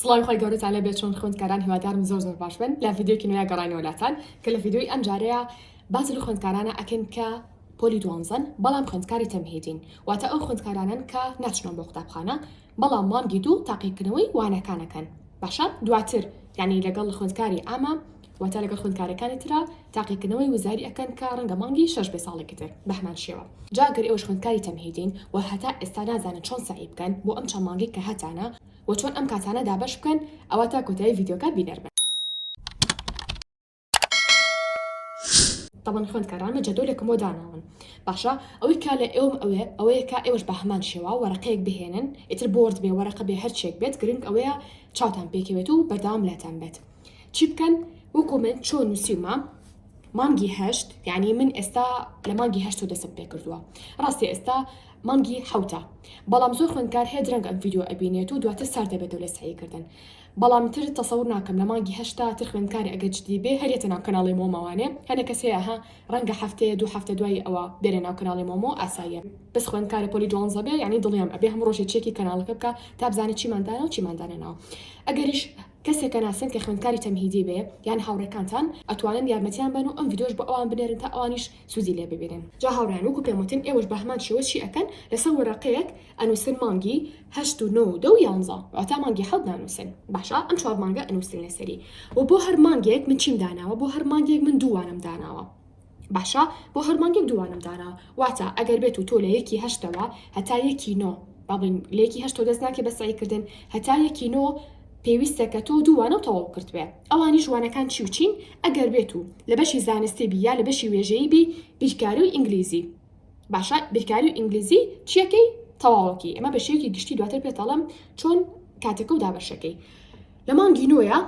سڵاوی خۆی گەورەتان لێ بێت چۆن خوێندکاران هیوادارم زۆر زۆر باش بن لە ڤیددیوکی نوێ گەڕینەوە لاتان کە لە ڤیددیوی ئەم جارەیە باز لە خوێندکارانە ئەکەین کە پۆلی دوانزەن بەڵام خوندکاری تەمهیدین واتە ئەو خوندکارانن کە ناچنەوە بۆ قوتابخانە بەڵام مانگی دوو تاقیکردنەوەی وانەکانەکەن باشە دواتر یعنی لەگەڵ خوندکاری ئامە واتە لەگەڵ خوندکارەکانی تررا تاقیکردنەوەی وزاری ئەەکەن کە ڕەنگە مانگی شش بێ ساڵێکی تر بەهمان شێوە جاگەر ئێوەش خوندکاری تەمهیدین و هەتا ئێستا نازانن چۆن سعی بکەن بۆ ئەم چەمانگی کە هەتانە و چۆن ئەم کاتانە دابەش بکەن ئەوا تا کۆتایی ڤیدیۆکە بینەر بن. تەبەن خوێندکاران لە جەدۆلێکمەوە داناون باشە ئەوەی کا لە ئێوەم ئەوێ ئەوەیە کا ئێوەش بە هەمان شێوا وەرەقەیەک بهێنن ئیتر بۆرد بێ وەرەقە بێ هەرچێک بێت گرنگ ئەوەیە چاوتان پێکەوێت و بەردەوام لاتان بێت چی بکەن وەکو من چۆن نووسیومە مانگی هەشت یعنی من ئێستا لە مانگی هەشت و دەسم پێ کردووە ڕاستی ئێستا مانگی حەوتە بەڵام زۆر خوێندکار هەیە درەنگ ئەم ڤیدیۆ ئەبینێت و دواتر سارد دەبێتەوە لە سەعی کردن بەڵام تر تەسەور ناکەم لە مانگی هەشتا تر خوێندکار ئەگەر جدی بێ هەرێتە ناو کەناڵی مۆمەوانێ هەنێ کەس هەیە ها ڕەنگە هەفتەیە دوو هەفتە دوای ئەوە بێنە ناو کەناڵی مۆمۆ ئاساییە بەس خوێندکارە پۆلی دوانزە بێ یانی دڵنیام ئەبێ هەموو ڕۆژێ چێکی کەناڵەکە بکا تا بزانێ چیمان دانا و چیمان دانەناوە ئەگەریش کەسێک کە ناسن کە خوێندکاری تەمهیدی بێ یان هاوڕێکانتان ئەتوانن یارمەتیان بەن و ئەم ڤیدۆش بۆ ئەوان بنێرن تا ئەوانیش سوودی لێ ببینن. جا هاوڕێیان وەکو پێم وتن ئێوەش بە هەمان شێوە چی ئەکەن لەسەر وەرەقەیەک ئەنووسن مانگی هەشت و نۆ و دە و یانزە واتا مانگی حەوت نانووسن باشە ئەم چوار مانگە ئەنووسن لەسەری وە بۆ هەر مانگێک من چیم داناوە بۆ هەر مانگێک من دوو وانەم داناوە باشە بۆ هەر مانگێک دووانەم داناوە واتا ئەگەر بێت و تۆ لە یەکی هەشتەوە هەتا یەکی نۆ با بڵێین لە یەکی هەشت تۆ دەست ناکەی بە سەعیکردن هەتا یەکی نۆ پێویستە کە تۆ دووانە و تەواو کردبێ ئەوانی ژوانەکان چی و چین ئەگەر بێت و لە بەشی زانستی بی یا لە بەشی وێژەیی بی بیرکاری و ئینگلیزی باشە بیرکاری و ئینگلیزی چیەکەی تەواوەکی ئەمە بە شێوەیەکی گشتی دواتر پێتەڵم چۆن کاتەکە و دابەشەکەی لە مانگی نۆیە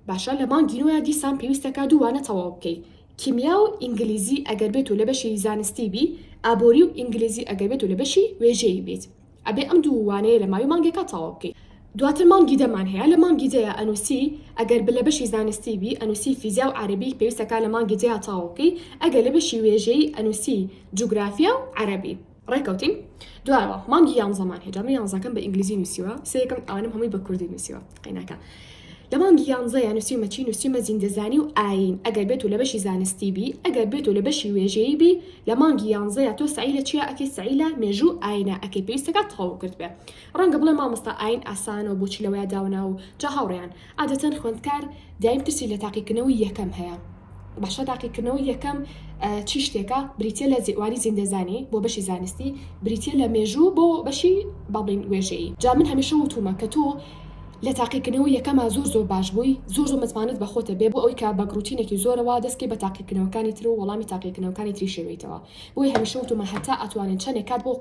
باشە لە مانگی نۆیا دیسان پێویستەکا دوو وانە تەواو بکەی کیمیا و ئینگلیزی ئەگەر بێت و لە بەشی زانستی بی ئابوری و ئینگلیزی ئەگەر بێت و لە بەشی وێژەیی بیت ئەبێ ئەم دوو وانەیە لە ماوی مانگێکا تەواو بکەی دواتر مانگی دەمان هەیە لە مانگی دەیا ئەنوسی ئەگەر بە لە بەشی زانستی بی ئەنوسی فیزیا و عەرەبی پێویستەکا لە مانگی دەیا تەواو بکەی ئەگەر لە بەشی وێژەیی ئەنوسی جوگرافیا و عەرەبی. ڕێکەوتین دوایەوە مانگی یانزەمان هێ جامە یانزەکەم بە ئینگلیزی نووسیوە سێکم ئەوانم هەمووی بە کوردی نووسیوە قەیناکە لە مانگی یانزە یان نووسی مەچی نووسیمە زیندەزانی و ئاین ئەگەر بێت و لە بەشی زانستی بی ئەگەر بێت و لە بەشی وێژەیی بی لە مانگی یانزە یا تۆ سعی لە چیا ئەکەی سعی لە مێژوو ئاینە ئەکەی پێویستەکە تەواو کرد بێ ڕەنگە بڵێ مامۆستا ئاین ئاسانەوە بۆچی لەوەیە داوناو جا هاوڕێیان عادەتەن خوێندکار دایم ترسی لە تاقیکردنەوەی یەکەم هەیە باشە تاقیکردنەوەی یەکەم چی شتێکە بریتیە لە زئواری زیندەزانی بۆ بەشی زانستی بریتیە لە مێژوو بۆ بەشی بەڵین وێژەیی جا من هەمیشە وتومە کە تۆ لە تاقیکردنەوەی یەکەما زۆر زۆر باش بووی زۆر زۆر متمانەت بە خۆتە بێ بۆ ئەوەی کە بە گڕوتینێکی زۆرەوە دەست کەی بە تاقیکردنەوەکانی تر و وەڵامی تاقیکردنەوەکانی تری شێوێیتەوە بۆیە هەمیشە وتومە هەتا ئەتوانن چەنێ کات بۆ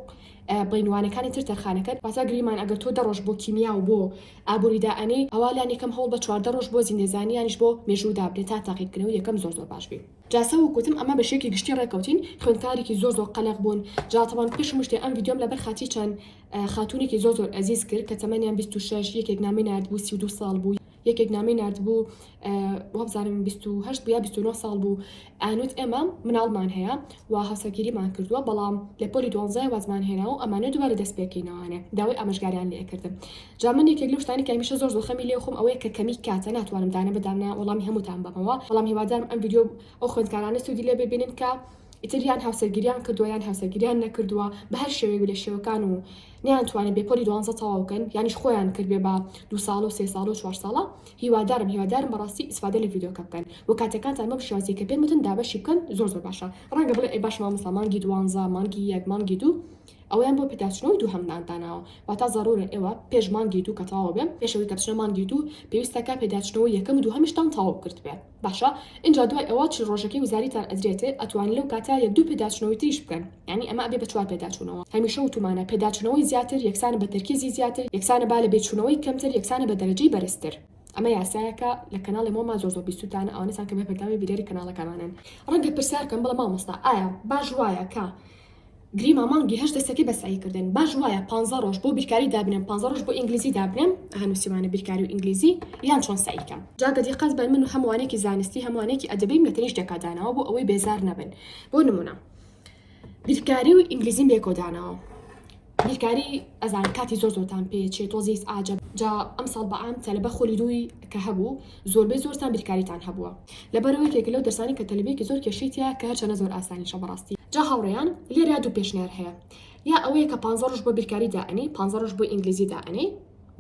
بڵین وانەکانی تر تەرخانەکەن واتە گریمان ئەگەر تۆ دە ڕۆژ بۆ کیمیا و بۆ ئابوری دائەنێی ئەوا لانیکەم هەوڵ بە چواردە ڕۆژ بۆ زیندەزانی یانیش بۆ مێژوو دابنێ تا تاقی بکەنەوە یەکەم زۆر زۆر باش بی. جا سە وک وتم ئە مە بە شێکی گشتی ڕێک کەوتین خوێندکارێکی زۆر زۆر قە لەق بوون جا تەبان پێش هەموو شتێ ئەم ڤیدیۆم لە بەر خاتری چەند خاتوونێکی زۆر زۆر ئەزیز کرد کە تەمەنیان بیست و شەش یەکێک نامەی ناردبوو سی و دوو ساڵ بوو یەکێک نامەی ناردبوو وابزانم بیست و هەشت بوو یا بیست و نۆ ساڵ بوو ئانوت ئێمە مناڵمان هەیە و هاوسەرگیریمان کردووە بەڵام لە پۆلی دوانزای وازمان هێنا و ئەمانە دووبارە دەست پێکەینەوانێ داوای ئاماژگاریان لێ کردم جا من یەکێک لەو شتانی کە هەمیشە زۆر زەخەمی لێ خۆم ئەوەیە کە کەمی کاتە ناتوانم دانە بەدانە وەڵامی هەمووتان بەمەوە بەڵام هیوادارم ئەم ڤیدیۆ ئەو خوێندکارانە سوودی لێ ببینن کە ئیتریان هاوسەرگیریان کردووە یان هاوسەرگیریان نەکردووە بە هەر شێوەیەک لە شێوەکان و نەیانتوانی بێ پۆلی دوانزە تەواو کەن یانیش خۆیان کردبێ بە دوو ساڵە و سێ ساڵە و چوار ساڵە هیوادارم هیوادارم بەڕاستی ئیسفادە لە ڤیدۆکە بکەن و کاتەکانتان بەم شێوازەی کە پێم وتن دابەشی بکەن زۆر زۆر باشە ڕەنگە بڵێ ئەی باشە مامۆستا مانگی دوانزە مانگی یەک مانگی دوو ئەوەیان بۆ پێداچونەوەی دووهەمتان داناوە واتا زەڕورە ئێوە پێش مانگی دوو کە تەواو بێ پێش ئەوەی کە بچنە مانگی دوو پێویستەکە پێداچونەوەی یەکەم و دووهەمیشتان تەواو کردبێ. باشە ئینجا دوای ئەوە چل ڕۆژەکەی وزاریتان ئەدرێتێ ئەتوان لەو کاتە یەک دوو پێداچونەوەی تریش بکەن یانی ئەمە ئەبێ بە چوار پێداچونەوە هەمیشە وتومانە پێداچونەوەی زیاتر یەکسانە بە تەرکیزی زیاتر یەکسانە با لە بێ چونەوەی کەمتر یەکسانە بە دەرەجەی بەرزتر ئەمە یاسایەکە لە کەناڵی مۆما زۆر زۆر بیستوتانە ئەوانەتان کە بەردەوامی بیرەری کەناڵەکەمانن ڕەنگە پرسیار کەم بڵێ مامۆستا ئایا باش وایە کە گریما مانگی هەشت دەستەکەی بە سەعی کردن باش وایە پانزە ڕۆژ بۆ بیرکاری دابنێم پانزە ڕۆژ بۆ ئینگلیزی دابنێم ئەها نووسیمانە بیرکاری و ئینگلیزی یان چۆن سەعی کەم جا گە دیقەت بەن من و هەم وانێکی زانستی هەم وانێکی ئەدەبیم لە تەنیشت ێکا داناوە بۆ ئەوەی بێزار نەبن بۆ نموونە بیرکاری و ئینگلیزیم لێکۆ داناوە بیرکاری ئەزان کاتی زۆر زۆرتان پێ چێ تۆزیس ئاجە جا ئەم ساڵ بە عام تەلەبە خولی دووی کە هەبوو زۆربەی زۆرتان بیرکاریتان هەبووە لەبەرەوە یەکێکە لەو دەرسانی کە تەلەبەیەکی زۆر کێشەی تیایە کە هەرچەنە زۆر ئاسانیشە بەڕاستی. جا هاوڕێیان لێرە دوو پێشنیار هەیە یا ئەوەیە کە پانزە ڕۆژ بۆ بیرکاری دائەنێی پانزە ڕۆژ بۆ ئینگلیزی دائەنێی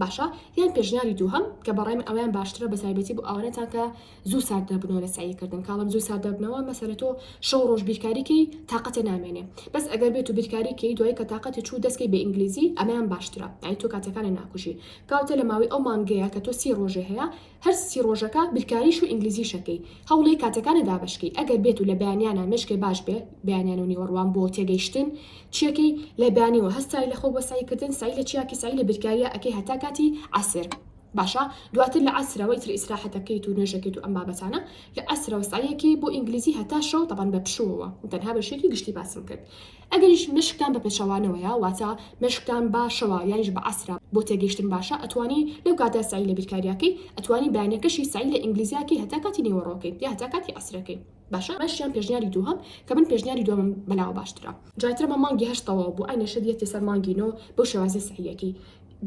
باشە یان پێشنیاری دووهەم کە بەڕای من ئەوەیان باشترە بەتایبەتی بۆ ئەوانەتان کە زوو سارد دەبنەوە لە سەعی کردن کاڵم زوو سارد دەبنەوە مەسەلە تۆ شەو ڕۆژ بیرکاری کەی تااقەتێ نامێنێ بەس ئەگەر بێت و بیرکاری کەی دوای کە تااقەتی چوو دەستکەی بە ئینگلیزی ئەمەیان باشترە ئەی تۆ کاتەکانە ناکوژی کاوتە لە ماوەی ئەو مانگەیە کە تۆ سی ڕۆژێ هەیە هەر سی ڕۆژەکە بیرکاریش و ئینگلیزیشەکەی هەوڵێ کاتەکانە دابەشکەی ئەگەر بێت و لە بەیانیانە مێشکێ باش بێ بەیانیان و نیوەڕوان بۆ تێگەیشتن چیەکەی لە بانی و هەستای لە خۆ بۆ سەعی کردن سەعی لە چیاکی سەعی لە بیرکاریە ئەکەی هەتا کاتی عەسر باشە دواتر لە عەسرەوە ئیتر ئیسراحەتەکەیت و نوێژەکەیت و ئەم بابەتانە لە عەسرەوە سەعیەکی بۆ ئینگلیزی هەتا شەو تەبعەن بە پشووەوە من تەنها بەشێکی گشتی باسم کرد ئەگەریش مەشقتان بە پێچەوانەوەیە واتە مەشقتان بە شەوە یانیش بە عەسرە بۆ تێگەیشتن باشە ئەتوانی لەو کاتە سەعی لە بیرکاریاکەی ئەتوانی بەیانەکەشی سەعی لە ئینگلیزیاکەی هەتا کاتی نێوەڕۆکەی یا هەتا کاتی عەسرەکەی باشە مەشق یان پێشنیاری دووهەم کە من پێشنیاری دووەمم بەلاوە باشترە جاترمە مانگی هەشت تەواو بوو ئەی نەشریەتی سەر مانگی نۆ بەو شێوازە سەعیەکی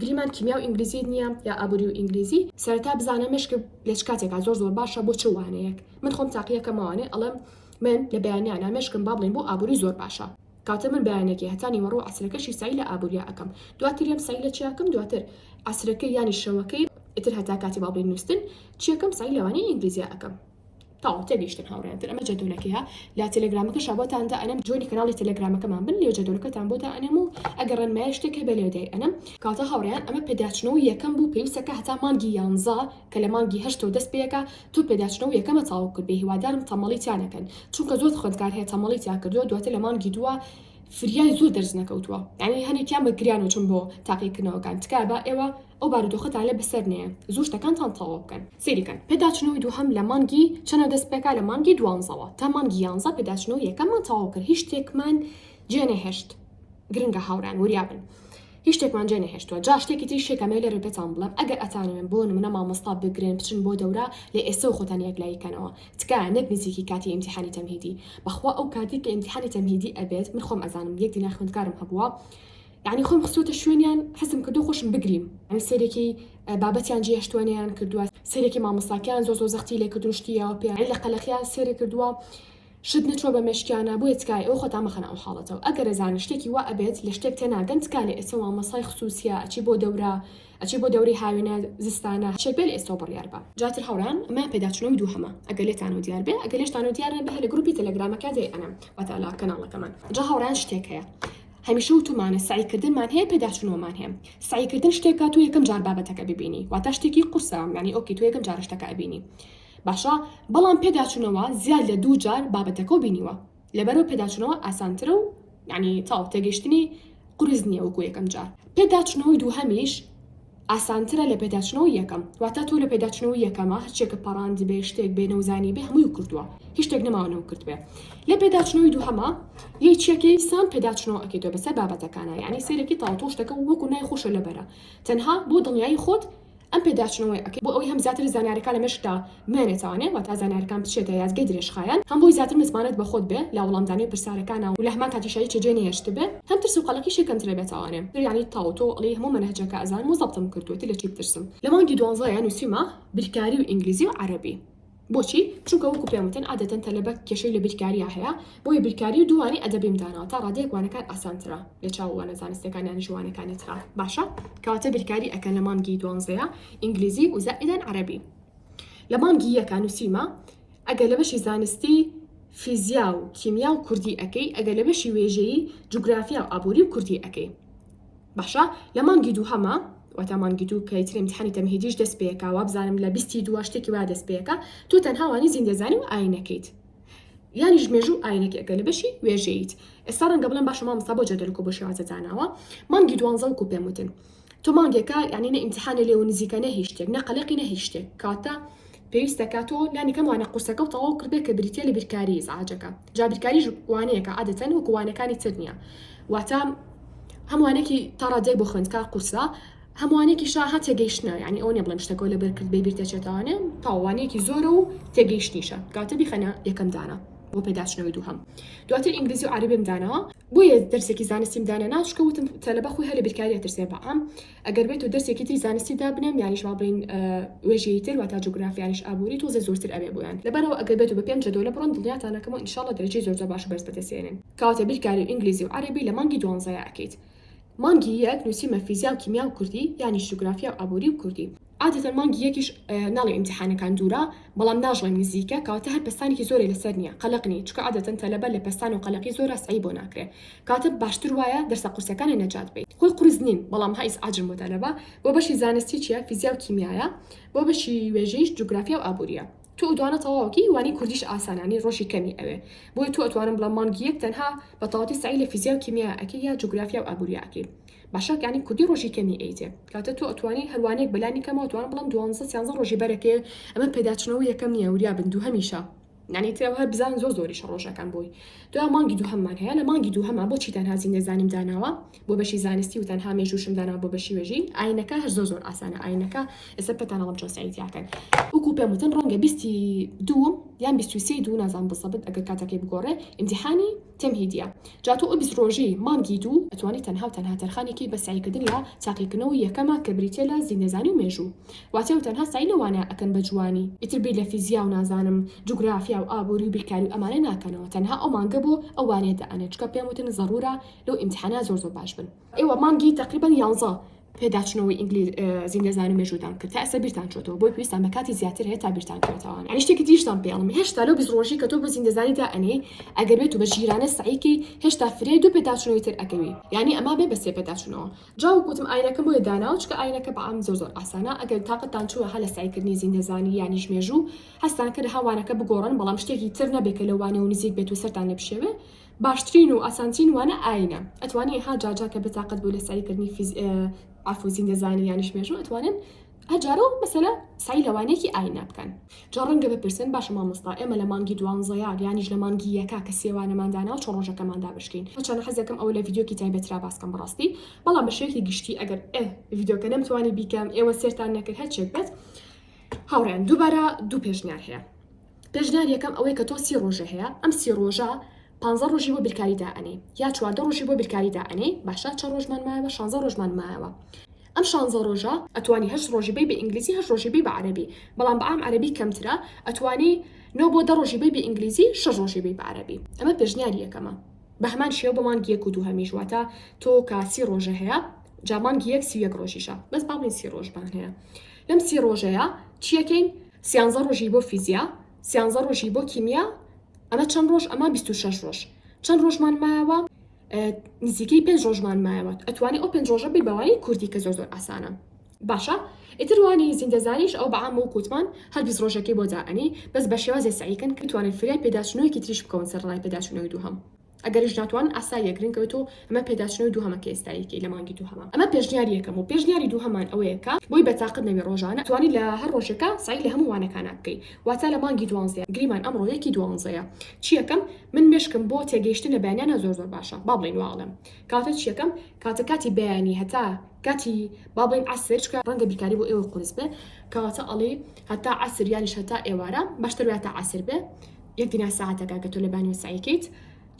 گریمان کیمیا و ئینگلیزیت نیە یا ئابوری و ئینگلیزی. سەرەتا بزانە مێشک لە چ کاتێکا زۆر زۆر باشە بۆ چ وانەیەک من خۆم تاقی ئەکەم ئەوانەی ئەڵێم من لە بەیانیانا مێشکم با بڵێین بۆ ئابوری زۆر باشە کەواتە من بەیانەکەی هەتا نیوەڕۆو عەسرەکەشی سەعی لە ئابوریا ئەکەم دواتریەم سەعی لە چیا کەم دواتر عەسرەکەی یانی شەوەکەی ئیتر هەتا کاتی با بڵێین نوستن چیەکەم سەعی لەوانەی ئینگلیزیا ئەکەم. تاو تێگەیشتن هاوڕێیان تر ئەمە جەدولەکەیە لە تەلەگرامەکە شابۆتاندا ئەنەم جۆنی کەناڵی تەلەگرامەکەمان بن لێ جەدولەکەتان بۆتە ئەنەم و ئەگەر ڕێنمای شتێک هەبێ لێ دەی ئەنەم کاتە هاوڕێیان ئەمە پێداچنەوە یەکەم بوو پێویستەکە هەتا مانگی یانزە کە لە مانگی هەشتەوە دەست پێەکە تۆ پێداچنەوە یەکەمە تاوە کرد بێ هیوادارم تەمەڵی تیا نەکەن چونکە زۆر خوێندکار هەیە تەمەڵی تیا کردووە دواتر لە مانگی دووە فریای زۆر دەرس نەکەوتووە یعنی هەنێکیان بە گریانەوە چون بۆ تاقیکردنەوەکان تکایە با ئێوە ئەو بارودۆخەتان لە بەسەر نەیە زوو شتەکانتان تەواو بکەن سەیری کەن پێداچنەوەی دووهەم لە مانگی چەنەوە دەست پێکا لە مانگی دوانزەوە تا مانگی یانزە پێداچنەوەی یەکەممان تەواو کرد هیچ شتێکمان جێ نەهێشت گرنگە هاورێیان وریا بن هیچ شتێکمان جێ نەهێشتووە جا شتێکی تریش هەیە کە ئەمەوێ لێرە پێتان بڵێم ئەگەر ئەتانەوێن بۆ نموونە مامۆستا بگرن بچن بۆ دەورە لە ئێستەوە خۆتان یەکلایی کەنەوە تکایە نەک نزیکی کاتی ئیمتیحانی تەمهیدی بەخوا ئەو کاتەی کە ئیمتیحانی تەمهیدی ئەبێت من خۆم ئەزانم یەک دینار خوێندکارم هەبووە یانی خۆم خستۆتە شوێنیان حەزم کردوە خۆشم بگریم یانی سەیرێکی بابەتیان جێهشتوە نەیان کردوە سەیرێکی مامۆستاکەیان زۆ زۆ زەختی لێ کردون شتی یاوە پێ عەی لە قەلەقیان سەیرێ کردوە شت نەچوە بە مێشکیانا بۆیە تکایە ئێوە خۆتان مەخەنە ئەو حاڵەتەوە ئەگەر ئەزانن شتێکی وا ئەبێت لە شتێک تێناگەن تکا لە ئێستە مامۆستای خسوسیە ئەچی بۆ دەورە ئەچی بۆ دەوری هاوینە زستانە شتێک بێ لە ئێستەوە بڕیار بە جاتر هاوڕێیان ئەمەیان پێداچونەوەی دووهەمە ئەگەر لێتانەوە دیار بێ ئەگەر لێشتانەوە دیار نەبێ هەر لە گروپی تەلەگرامەکە جێی ئەنەم واتە لە کەناڵەکەمان جا هاوڕێیان شتێک هەیە هەمیشە وتومانە سەعی کردنمان هەیە پێداچونەوەمان هەیە سەعی کردن شتێکە تۆ یەکەم جار بابەتەکە ببینی واتە شتێکی قورسە یانی ئۆکی تۆ یەکەم جارە شتەکە ئەبینی باشە بەڵام پێداچونەوە زیاد لە دوو جار بابەتەکە و بینیوە لەبەرەوە پێداچونەوە ئاسانترە و یعنی تاو تێگەشتنی قرس نییە وەکو یەکەم جار پێداچونەوەی دووهەمیش ئاسانترە لە پێداچونەوەی یەکەم واتا تۆ لە پێداچونەوەی یەکەمە هەرچیەکە پەڕاندبێ شتێک بێ نەوزانیبێ هەمووی کردوە هیچ شتێک نەماوە نەو کردبێ لە پێداچونەوەی دووهەما یەی چیەکەی سام پێداچونەوە ئەکەیتۆ بەسەر بابەتەکانا یەعنی سەیرەکی تاو تۆ شتەکە وەکو نای خۆشە لەبەرە تەنها بۆ دڵنیایی خۆت ئەم پێداچونەوەی ئەکەی بۆ ئەوەی هەم زیاتر زانیارەکان لە مێشکتا مێنێ تاوانێ واتا زانیارەکان بچێتە یادگەی درێژخایەن هەم بۆی زیاتر متمانەت بە خۆت بێ لە وڵامدانی پرسارەکانا و لە هەمان کاتیشا هیچ جێ نەهێشتبێ هەم ترس و قەلەقیشی کەمترە بێ تاوانێ تر یانی تاو تۆ ئەڵێی هەموو مەنهەجەکە ئەزانم و زەبتم کردووە تر لە چی بترسم. لە مانگی دوانزەیا نووسیمە بیرکاری و ئینگلیزی و عەرەبی بۆچی چونکە وەکو پێم وتن عادەتەن تەلەبە کێشەی لە بیرکاریا هەیە بۆیە بیرکاری و دوو وانەی ئەدەبیم داناوە تا ڕادەیەک وانەکان ئاسانترە لە چاو وانە زانستیەکان یانیش وانەکانی ترا باشە کەواتە بیرکاری ئەکەن لە مانگی دوانزەیا ئینگلیزی و زائیدەن عەرەبی لە مانگی یەکا نوسیومە ئەگەر لە بەشی زانستی فیزیا و کیمیا و کوردی ئەکەی ئەگەر لە بەشی وێژەیی جوگرافیا و ئابوری و کوردی ئەکەی باشە لە مانگی دووهەما واتە مانگی دوو کە ئیتر امتحانی تەمهیدیش دەست پێکا وابزانم لە بیستی دووە شتێکی وا دەست پێکا تۆ تەنها وانی زیندەزانی و ئاینەکەیت یانیش مێژوو ئاینەکە ئەگەر لە بەشی وێژەیت ئێستا ڕەنگە بڵێم باشە مامۆستا بۆ جەدەل و کۆبۆشی واز لە داناوە مانگی دوانزە وەکو پێم وتن تۆ مانگێکە یانی نە ئیمتیحانێ لێوە نزیکە نە هیچ شتێک نە قەلەقی نە هیچ شتێک کاتە پێویستە کە تۆ لانی کەم وانە قورسەکە و تەواو کردبێت کە بریتیە لە بیرکاری ئیزعاجەکە جا بیرکاریش وانەیەکە عادەتەن وەکو وانەکانی تر نییە واتە هەم وانەیەکی تا ڕادەیەک بۆ خوێندکار قورسە هەم وانەیەکیشە هەر تێگەیشتنە یانی ئەوە نیە بڵێم شتەکە و لەبەر کرد بێ بیر دەچێتەوانێ تاو وانەیەکی زۆرە و تێگەیشتنیشە کاتە بیخەنە یەکەم دانە بۆ پێداچنەوەی دووهەم دواتر ئینگلیزی و عەرەبیم دانەوە بۆیە دەرسێکی زانستیم دانەنا چکە وتم تەلەبە خۆی هەلە بیرکاری ئەترسێ بەام ئەگەر بێت و دەرسێکی تری زانستی دابنێم یانیش با بڵین وێژەی تر واتا جوگرافیانیش ئابووری تۆزێ زۆرتر ئەوێ بۆیان لەبەرەوە ئەگەر بێت و بە پێنج جەدۆلە بڕۆن دڵنیاتانەکەم و ان شاء اللە دەرەجەی زۆر زۆر باش و بەرز بەدەستێنن کەواتە بیرکاری و ئینگلیزی و عەرەبی لە مانگی دوانزەیا ئەکەیت مانگی یەک نووسیمە فیزیا و کیمیا و کوردی یانیش جوگرافیا و ئابووری و کوردی. عادەتەن مانگی یەکیش ناڵێین ئیمتیحانەکان دوورە بەڵام ناژڵێین نزیکە کەواتە هەر پەستانێکی زۆرێ لەسەر نیە قەلەق نی چونکە عادەتەن تەلەبە لە پەستان و قەلەقی زۆرا سەعی بۆ ناکرێ کەواتە باشتر وایە دەرسە قورسەکانێ نەجات بەین. خۆی قورس نین بەڵام هە ئیس عاجن بۆ تەلەبە بۆ بەشی زانستی چیە فیزیا و کیمیایە بۆ بەشی وێژەیش جوگرافیا و ئابوریە تۆ ئوتوانە تەواوەکەی وانی کوردیش ئاسانە نی ڕۆژی کەمی ئەوێ بۆیە تۆ ئەتوانم بڵێم مانگی یەک تەنها بەتەواتی سەعی لە فیزیا و کیمیا ئەکەی یا جوگرافیا و ئابوریا ئەکەی باشە یانی کوردی ڕۆژی کەمی ئەیتێ کاتە تۆ ئەتوانی هەروانێک بەلانی کەمەوە توان بڵم دوانزە سیانزە ڕۆژی بەرەکێ ئەمە پێداچنەوە یەکەم نییە وریا بن دوو هەمیشە نانی ترەوە هەر بزان زۆر زۆری شەڕۆژەکان بووی دو مانگی دوو هەممان هەیە لە مانگی دوو هەما بۆچی تەنها زیندە زانیم داناوە بۆ بەشی زانستی و تەنها مێژوشم دانا بۆ بەشی وێژی ئاینەکە هەر زۆر زۆر ئاسانە ئاینەکە ئێستا پێتانەڵم چۆن سعیدیاکەن وەکو پێم وتن ڕەنگە بیستی دووم یان بیستی دوو نازان بزەبت ئەگەر کاتەکەی بگۆڕێ ئیمتحانی تێم هیدیە جا تۆ ئبز ڕۆژی مانگی دوو ئەتوانی تەنها و تەنها تەرخانێکی بە سەعی کردن لە تاقیکردنەوەی یەکەمە کە بریتیە لە زیندەزانی و مێژوو واتە و تەنها سەعی لەوانە ئەکەن بە جوانی ئیتر بیر لە فیزیا و نازانم جوگرافیا و ئابوری و بیرکاری و ئەمانە ناکەنەوە تەنها ئەو مانگە بۆ ئەو وانەیە دائەنێن چونکە پێم وتن زەڕورە لەو ئیمتیحانە زۆر زۆر باش بن ئێوە مانگی تەقریبەن یانزە پێداچنەوەی ئینگلیزی نێزان و مێژوودان کرد تا ئێستا بیرتان چۆتەوە بۆی پێویستان بە کاتی زیاتر هەیە تا بیرتان کرێتەوە یعنی شتێکی دیشتان پێڵم هێشتا لەو بیست ڕۆژی کە تۆ بۆ زیندەزانی دا ئەنێی ئەگەر بێت و بە ژیرانە سەعیکەی هێشتا فرێ دوو پێداچوونەوەی تر ئەکەوی یعنی ئەما بێ بە سێ پێداچوونەوە جا وەک وتم ئاینەکەم بۆیە داناوە چونکە ئاینەکە بە عام زۆر زۆر ئاسانە ئەگەر تاقەتتان چووە هەر لە سەعیکردنی زیندەزانی یانیش مێژوو هەستان کە لە هەوانەکە بگۆڕن بەڵام شتێکی تر نەبێ کە لەوانەوە نزیک بێت و سەرتان لێ بشێوێ باشترین و ئاسانترین وانە ئاینە ئەتوانی ها جاجا کە بتاقەت بوو لە سەعیکردنی فیز عفو زیندەزانی یانیش مێژوو ئەتوانن هەجارە و مەسەلە سای لەوانەیەکی ئاینا بکەن جا ڕەنگە بپرسن باشە مامۆستا ئێمە لە مانگی دوانزەیە یانیش لە مانگی یەکا کە سێوانەمان دانا و چۆن ڕۆژەکەمان دابشکین هەرچەندە حەز دەکەم ئەوە لە ڤیدیۆکی تایبەت را باس کەم بەڕاستی بەڵام بە شێوەیەکی گشتی ئەگەر ئێ ڤیدیۆکە نەمتوانی بیکەم ئێوە سێرتان نەکرد هەر چێک بێت هاوڕێیان دووبارە دوو پێشنیار هەیە پێشنیار یەکەم ئەوەی کە تۆ سی ڕۆژێ هەیە ئەم سی ڕۆژە پانزە ڕۆژی بۆ بیرکاری دائەنێی یا چواردە ڕۆژی بۆ بیرکاری دائەنێی باشە چەند ڕۆژمان مایەوە شانزە ڕۆژمان مایەوە ئەم شانزە ڕۆژە ئەتوانی هەشت ڕۆژی بەی بە ئینگلیزی هەشت ڕۆژی بەی بە عەرەبی بەڵام بە عام عەرەبی کەمترە ئەتوانی نۆ بۆ دە ڕۆژی بەی بە ئینگلیزی شەش ڕۆژی بەی بە عەرەبی ئەمە پێشنیاری یەکەمە بە هەمان شێوە بۆ مانگی یەک و دووهەمیش واتە تۆ کە سی ڕۆژە هەیە جا مانگی یەک سی و یەک ڕۆژیشە بەس با بڵێین سی ڕۆژمان هەیە لەم سی ڕۆژەیە چیەکەین سیانزە ڕۆژی بۆ فیزیا سیانزە ڕۆژی بۆ کیمیا ئەمە چەند ڕۆژ ئەمە بیست و شەش ڕۆژ چەند ڕۆژمان مایەوە نزیکەی پێنج ڕۆژمان مایەوە ئەتوانی ئەو پێنج ڕۆژە بی بەوانی کوردی کە زۆر زۆر ئاسانە باشە ئیتر وانی زیندەزانیش ئەو بەعام و کووتمان هەر بیست ڕۆژەکەی بۆ دائەنی بەس بە شێوازێ سەعیکەن کە توانن فریای پێداچوونەوەیەکی تریش بکەون سەر ڕای پێداچوونەوەی دووهەم ئەگەریش ناتوان ئاسای لێ گرنگە بێت و ئەمە پێداچنەوەی دووهەمە کە ئێستا یەکەی لە مانگی دووهەمە ئەمە پێشنیاری یەکەم و پێشنیاری دووهەمان ئەوەیە کە بۆی بە تاقت نەبی ڕۆژانە توانی لە هەر ڕۆژێکا سەعی لە هەموو وانەکانا بکەی واتا لە مانگی دوانزەیە گریمان ئەمڕۆ یەکی دوانزەیە چی یەکەم من مێشکم بۆ تێگەیشتن لە بەیانیانە زۆر زۆر باشە با بڵێین وا ئەڵێم کاتە چی یەکەم کاتە کاتی بەیانی هەتا کاتی با بڵێین عەسر چکە ڕەنگە بیرکاری بۆ ئێوە قورس بێ کەواتە ئەڵێی هەتا عەسر یانیش هەتا ئێوارە باشتر وایە تا عەسر بێ یەک دینار سەعاتەکە ئەگەر تۆ لەبانیوە سەعی کەیت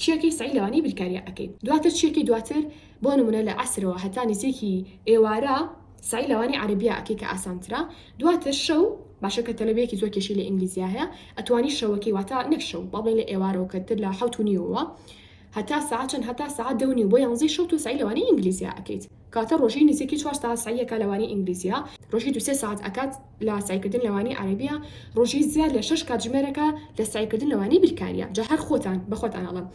چیەکەی سەعی لەوانەی بیرکاریە ئەکەیت دواتر چیەکەی دواتر بۆ نمونە لە عەسرەوە هەتا نزیکی ئێوارە سەعی لەوانەی عەرەبیا ئەکەی کە ئاسانترە دواتر شەو باشە کە تەلەبەیەکی زۆر کێشەی لە ئینگلیزیا هەیە ئەتوانی شەوەکەی واتا نەک شەو با بڵێین لە ئێوارەوە کە تر لە حەوت و نیوەوە هەتا سەعات چەند هەتا سەعات دە و نیو بۆ یانزەی شەو تۆ سەعی لەوانەی ئینگلیزیا ئەکەیت کاتە ڕۆژی نزیکی چوار سەعات سەعی ئەکات لە وانەی ئینگلیزیە ڕۆژی دوو سێ سەعات ئەکات لە سەعی کردن لە وانەی عەرەبیە ڕۆژی زیاد لە شەش کاتژمێرەکە لە سەعی کردن لە وانەی بیرکاریە جا هەر خۆتان بە خۆتان ئەڵێم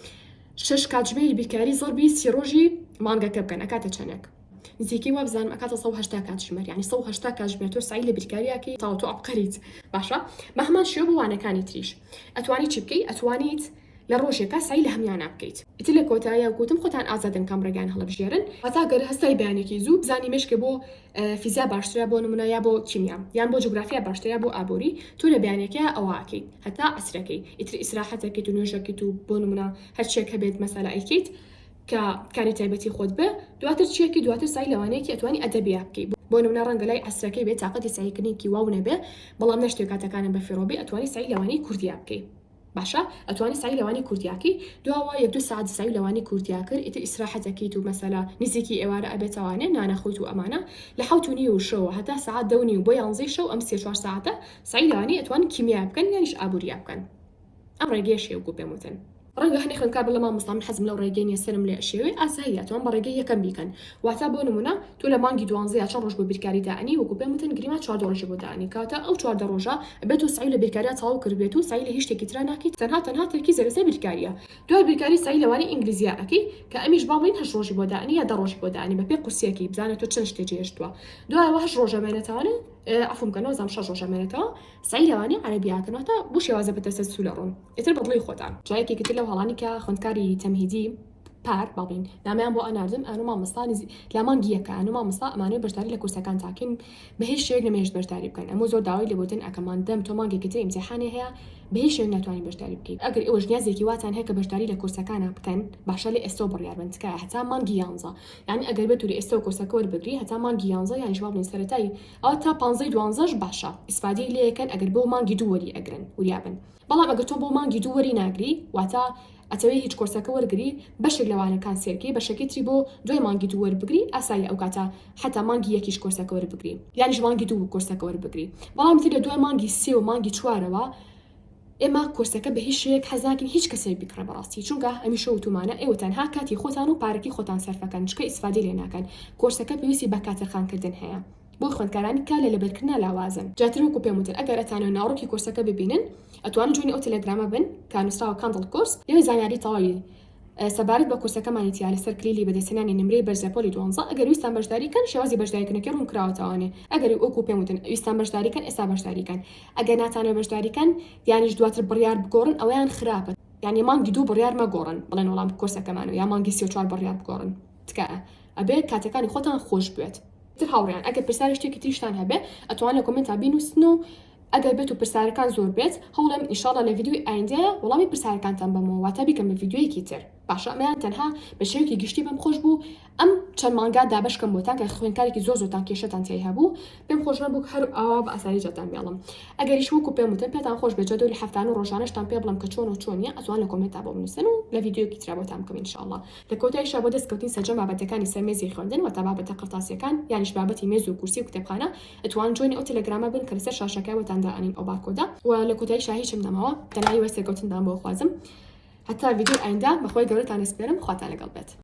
شەش کاتژمێری بیرکاری زەڕبی سی ڕۆژی مانگەکە بکەن ئەکاتە چەنێک نزیکی وا بزانم ئەکاتە 180 کاتژمێر یعنی 180 کاتژمێر تۆ سەعی لە بیرکاریەکەی تاو تۆ عەبقەریت باشە بە هەمان شێوە بۆ وانەکانی تریش ئەتوانی چی بکەی ئەتوانیت لە ڕۆژێکا سەعی لە هەمویانا بکەیت. ئیتر لە کۆتاییا وکوتم خۆتان ئازادن کام ڕێگایان هەڵەبژێرن. واتا گەر هەستای بەیانێکی زوو بزانی مێشکێ بۆ فیزیا باشترە بۆ نمونە یا بۆ کیمیا یان بۆ جوگرافیا باشترە یا بۆ ئابوری تۆ لە بەیانێکەیا ئەوە ئەکەیت هەتا عەسرەکەی ئیتر ئیسراحەت ئەکەیت و نوێژ ئەکەیت و بۆ نمونە هەرچیەک هەبێت مەسەلە ئەیکەیت کە کاری تایبەتی خۆت بێ دواتر چی ئەکەی دواتر سەعی لەوانەیەکی ئەتوانی ئەدەبیا بکەی بۆ نمونە ڕەنگە لای عەسرەکەی بێ تاقەتی سەعیکردنێکی واو نەبێ بەڵام نەشتوێ کاتەکانت بەفیڕۆ بێ ئەتوانی سەعی لەوانەی کوردیا بکەی باشە ئەتوانی سەعی لەوانی کوردیاکەی دواوە یەک دوو سەعات سەعی لەوانی کوردیا کرد ئیتر ئیسراحەتەکەیت و مەسەلا نزیکی ئێوارە ئەبێت ئەوانێ نانە خویت و ئەمانە لە حەوت و نیو شەوە هەتا سەعات دە و نیو بۆ یانزەی شەو ئەم سێ چوار سەعاتە سەعی لەوانی ئەتوان کیمیا بکەن یانیش ئابوریا بکەن ئەم ڕێگەیەش هەیە وەکو پێم وتن. ڕەنگە هەنێ خوێندکار بڵێ مامۆستا من حەزم لەو ڕێگەی نیە سەرم لێ ئەشێوێ ئاساییە ئەتوان بە ڕێگەی یەکەم بیکەن واتا بۆ نمونە تۆ لە مانگی دوانزە یا چەند ڕۆژ بۆ بیرکاری دائەنێی وەکو پێم وتن گریما چواردە ڕۆژی بۆ دائەنێی کاتە ئەو چواردە ڕۆژە ئەبێ تۆ سەعی لە بیرکاریا تەواو کردبێت و سەعی لە هیچ شتێکی ترا ناکەی تەنها تەنها تەرکیزە لەسەر بیرکاریە دوای بیرکاری سەعی لەوانەی ئینگلیزیا ئەکەی کە ئەمیش با بڵێین هەشت ڕۆژی بۆ دائەنێی یا دە ڕۆژی بۆ دائەنێی بەپێ قورسیەکەی بزانە تۆ چەند شتێ جێهێشتوە دوای ئەوە هەشت ڕۆژە مێنێتەوانە عەفوم کە نۆزدەم شەش ڕۆژە مێنێتەوە سەعی لەوانەی عەرەبیا کەن واتە بۆ شێوازە بە تەسەلسولە ڕۆن ئیتر بە دڵی خۆتان جا یەکێکی تر لەو هەڵانەی کە خوێندکاری تەمهیدی پار بابین نامەیان بۆ ئەناردم ئانو مامۆستا نزی لا مانگی یەکە ئانو مامۆستا ئەمانەوێ بەشداری لە کورسەکان تاکەین بە هیچ شێوەیەک نەمێشت بەشداری بکەن ئەمو زۆر داوای لێبوردن ئەکەمان دەم تۆ مانگێکی تر ئیمتیحانێ هەیە بە هیچ شێوەیەک ناتوانی بەشداری بکەیت ئەگەر ئێوەش نیازێکی واتان هەیە کە بەشداری لە کورسەکانا بکەن باشە لە ئێستەوە بڕیار بن تکایە هەتا مانگی یانزە یانی ئەگەر بتوری ئێستەوە کورسەکە وەربگری هەتا مانگی یانزە یانیش وا بڵێین سەرەتای ئەوە تا پانزەی دوانزەش باشە ئیسفادەی لێ ئەکەن ئەگەر بۆ مانگی دوو وەری ئەگرن وریا بن بەڵام ئەگەر تۆ بۆ مانگی دوو وەری ناگری واتە ئەتەوێ هیچ کۆرسەکە وەرگری بەشێک لەوانە کانسێلکەی بەشەکەی تری بۆ دوای مانگی دوو وەربگری ئاساییە ئەو کاتە حەتا مانگی یەکیش کۆرسەکە وەربگری یانیش مانگی دوو کۆرسەکە وەربگری بەڵام تر لە دوای مانگی سێ و مانگی چوارەوە ئێمە کۆرسەکە بە هیچ شێک حەزناکەین هیچ کەسێک بکڕە بەڕاستی چونکە ئەمیشە وتومانە ئێوە تەنها کاتی خۆتان و پارەکی خۆتان سەرفەکەن چکە ئیسفادی لێ ناکەن کۆرسەکە پێویستی بە کاتەرخانکردن هەیە بۆ خوێندکارانی کار لە لەبەرکردنا لاوازن. دواتر وەکو پێم وتن ئەگەر ئەتانەوێ ناوەڕۆکی کۆرسەکە ببینن ئەتوانن جوێنی ئەو تەلەگرامە بن کە نوسراوە کاندڵ کۆرس لەوێ زانیاری تەواوی سەبارەت بە کۆرسەکەمانی تیا لەسەر کلیلی بەدەستهێنانی نمرەی بەرزە پۆلی دوانزە ئەگەر ویستان بەشداری کەن شێوازی بەشداریکردنەکەی ڕوون کراوەتەوانێ ئەگەر وەکو پێم وتن ویستان بەشداری کەن ئێستا بەشداری کەن ئەگەر ناتانەوێ بەشداری کەن یانیش دواتر بڕیار بگۆڕن ئەوەیان خراپە یانی مانگی دوو بڕیار مەگۆڕن بڵێن وەڵام کۆرسەکەمانە یا مانگی سی و چوار بڕیار بگۆڕن تکایە ئەبێ کاتەکانی خۆتان خۆش بوێت. تر هاوڕێیان ئەگەر پرسیاری شتێکی تریشتان هەبێ ئەتوان لە کۆمنتا بینوسن و ئەگەر بێت و پرسیارەکان زۆر بێت هەوڵێم ئیشاڵە لە ڤیددیوی ئایندەیە وەڵامی پرسیارەکانتان بەمەوە واتە بیکەم بە ڤیددیویەکی تر باشە ئەمەیان تەنها بە شێوکی گشتی بەم خۆش بوو ئەم چەند مانگا دابشکەم بۆتان کە خوێنکارێکی زۆر زۆتان کێشتان تێ هەبوو پێم خۆش نەبوو هەر ئاوا بە ئاسایی جاتان بێڵم ئەگەریش وەکو پێم وتن پێتان خۆش بێت جەدۆلی هەفتان و ڕۆژانشتان پێ بڵم کە چۆن و چۆنیە ئەتوان لە کۆمێنتا بۆ بنووسن و لە ڤیددیوکی ترابەتان بکەم انشاءله لە کۆتاییشا بۆ دەست کەوتنی سەرجەم بابەتەکانی سەر مێزی خوێندن واتە بابەتە قەرتاسیەکان یانیش بابەتی مێز و کورسی و کتێبخانە ئەتوان جوێنی ئەو تێلێگرامە بن کە لەسەر شاشەکە بۆتان دائەنین ئەو بارکۆدە وە لە کۆتاییشا هیچم نەماوە تەنها هیوای سەرکەوتنتان بۆ ئەخوازم هەتا ڤیدیۆی ئایندە بەخوای گەورەتان ئەسپێرم خواتان لەگەڵ بێت.